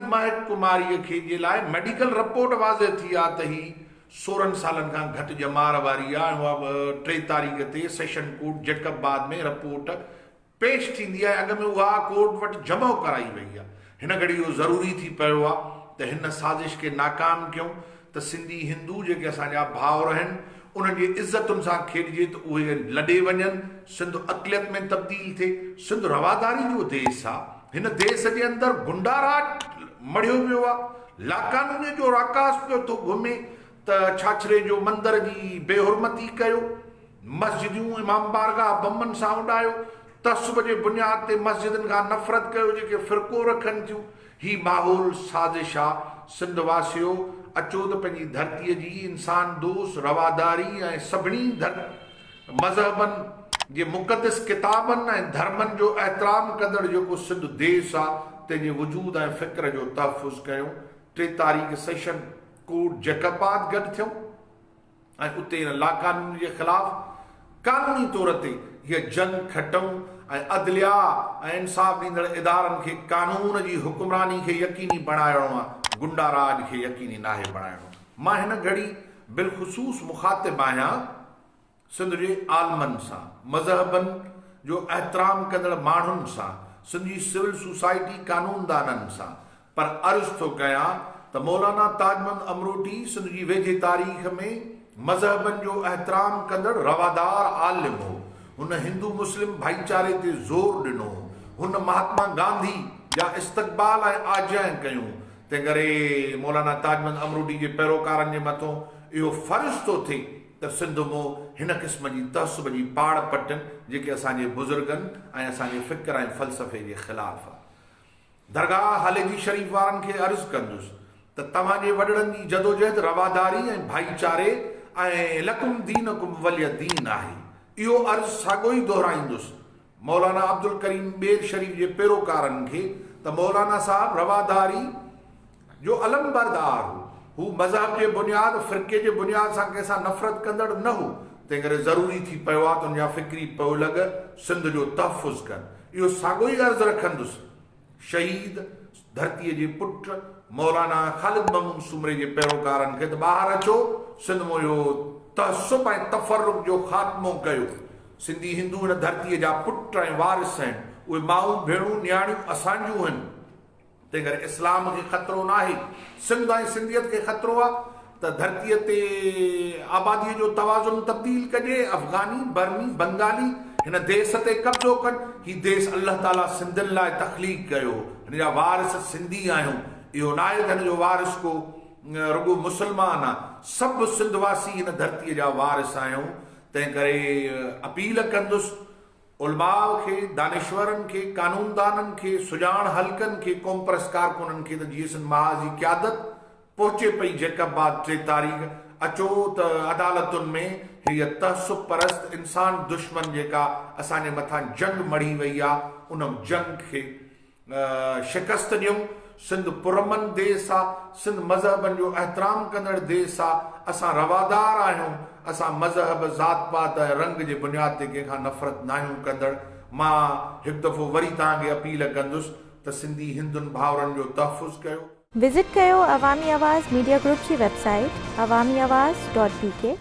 مهڪ ڪماريء کي جي لاء ميڊيڪل رپورٽ واضح ٿي آ ته هي سورهن سالن کان گهٽ ڄمار واري آ ۽ اها به ٽي تاريخ تي session court Jacobabad ۾ report پيش ٿيندي آ ۽ اڳ ۾ اها ڪورٽ وٽ جمع ڪرائي وئي آ هن گهڙي اهو ضروري ٿي پيو آ ته هن سازش کي ناڪام ڪيون ته سنڌي هندو جيڪي اسان جا ڀائر آهن انهن جي عزتن سان کيڏجي ته اهي لڏي وڃن، سنڌ اقليت ۾ تبديل ٿئي، سنڌ رواداري جو ديس آ، هن ديس جي اندر غنڊا راڄ مڙهيو ويو آ، لاقانونيت جو راڪاس پيو ٿو گهمي ته ڇاڇري جو مندر جي بي حرمتي ڪيو، مسجديون امام بارگاهه بمن سان اڏايو، تعصب جي بنياد تي مسجدن کان نفرت ڪيو جيڪي فرقو رکن ٿيون، هي ماحول سازش آ سنڌ واسيو اچو ته پنهنجي ڌرتي جي انسان دوست رواداري ۽ سڀني ڌر مذهبن جي مقدس ڪتابن ۽ ڌرمن جو احترام ڪندڙ جيڪو سنڌ ديس آ تنهن جي وجود ۽ فڪر جو تحفظ ڪيون ٽي تاريخ سيشن ڪوٽ جيڪب آد گڏ ٿيون ۽ اتي ان لاقانوني جي خلاف قانوني طور تي هيء جنگ کٽئون ۽ عدليا ۽ انصاف ڏيندڙ ادارن کي قانون جي حڪمراني کي يقيني بڻائڻو آ، غنڊا راڄ کي يقيني ناهي بڻائڻو. مان هن گهڙي بالخصوص مخاطب آهيان سنڌ جي عالمن سان، مذهبن جو احترام ڪندڙ ماڻهن سان، سنڌ جي سول سوسائٽي قانوندانن سان، پر عرض ٿو ڪيان ته مولانا تاجمند امروٽي سنڌ جي ويجهي تاريخ ۾ مذهبن جو احترام ڪندڙ روادار عالم هو. هن هندو مسلم ڀائيچاري تي زور ڏنو. هن مهاتما گانڌي جا استقبال ۽ آجيائن ڪيون. تنهنڪري مولانا تاجمند امروٽي جي پيروڪارن جي مٿون اهو فرض ٿو ٿئي ته سنڌ مون هن قسم جي تعصب جي پاڙ پٽن جيڪي اسان جي بزرگن ۽ اسان جي فڪر ۽ فلسفي جي خلاف درگاهه هاليجي شريف وارن کي عرض ڪندس ته توهان جي وڏڙن جي جدوجهد رواداري ۽ ڀائيچاري ۽ لڪم دينڪم ولي دين آهي. اهو عرض ساڳيو ئي دهرائيندس مولانا عبدالڪريم ٻير شريف جي پيروڪارن کي ته مولانا صاحب رواداري جو علمبردار هو. هو مذهب جي بنياد، فرقي جي بنياد سان ڪنهن سان نفرت ڪندڙ نه هو، تنهن ڪري ضروري ٿي پيو آ ته هن جا فڪري پيولڳ سنڌ جو تحفظ ڪن. اهو ساڳيو ئي عرض رکندس شهيد ڌرتيء جي پٽ مولانا خالد محمود سومري جي پيروڪارن کي ته ٻاهر اچو، سنڌ مون اهو تعصب ۽ تفرق جو خاتمو ڪيو. سنڌي هندو هن ڌرتيء جا پٽ ۽ وارث آهن. اهي مائون، ڀيڻون، نياڻيون اسان جون هن. تنهنڪري اسلام کي خطرو ناهي، سنڌ ۽ سنڌيت کي خطرو آ ته ڌرتيء تي آباديء جو توازن تبديل ڪجي، افغاني، برمي، بنگالي هن ديس تي قبضو ڪن، هي ديس الله تعاليٰ سنڌين لاء تخليق ڪيو، هن جا وارث سنڌي آهيون، اهو ناهي ته هن جو وارث ڪو رڳو مسلمان آ، سڀ سنڌ واسي هن ڌرتيء جا وارث آهيون، تنهنڪري اپيل ڪندس. علماء کي، دانشورن کي، قانوندانن کي، سڄاڻ حلقن کي، قومپرست ڪارڪنن کي ته جيئسن محاذ جي قيادت پهچي پئي جيڪب بعد ٽي تاريخ اچو ته عدالتن ۾ هيء تعصب پرست انسان دشمن جيڪا اسان جي مٿان جنگ مڙهي وئي آ ان جنگ کي شڪست ڏيون، سنڌ پرامن ديس آ، سنڌ مذهبن جو احترام ڪندڙ ديس آ، اسان روادار آهيون، اسان مذهب، ذات پات ۽ رنگ جي بنياد تي ڪنهن کان نفرت ناهيون ڪندڙ، مان هڪ دفعو وري توهان کي اپيل ڪندس ته سنڌي هندن ڀائرن جو تحفظ ڪيو. وزٽ ڪيو عوامي آواز ميڊيا گروپ جي website Awami Awaz dot بي ڪي.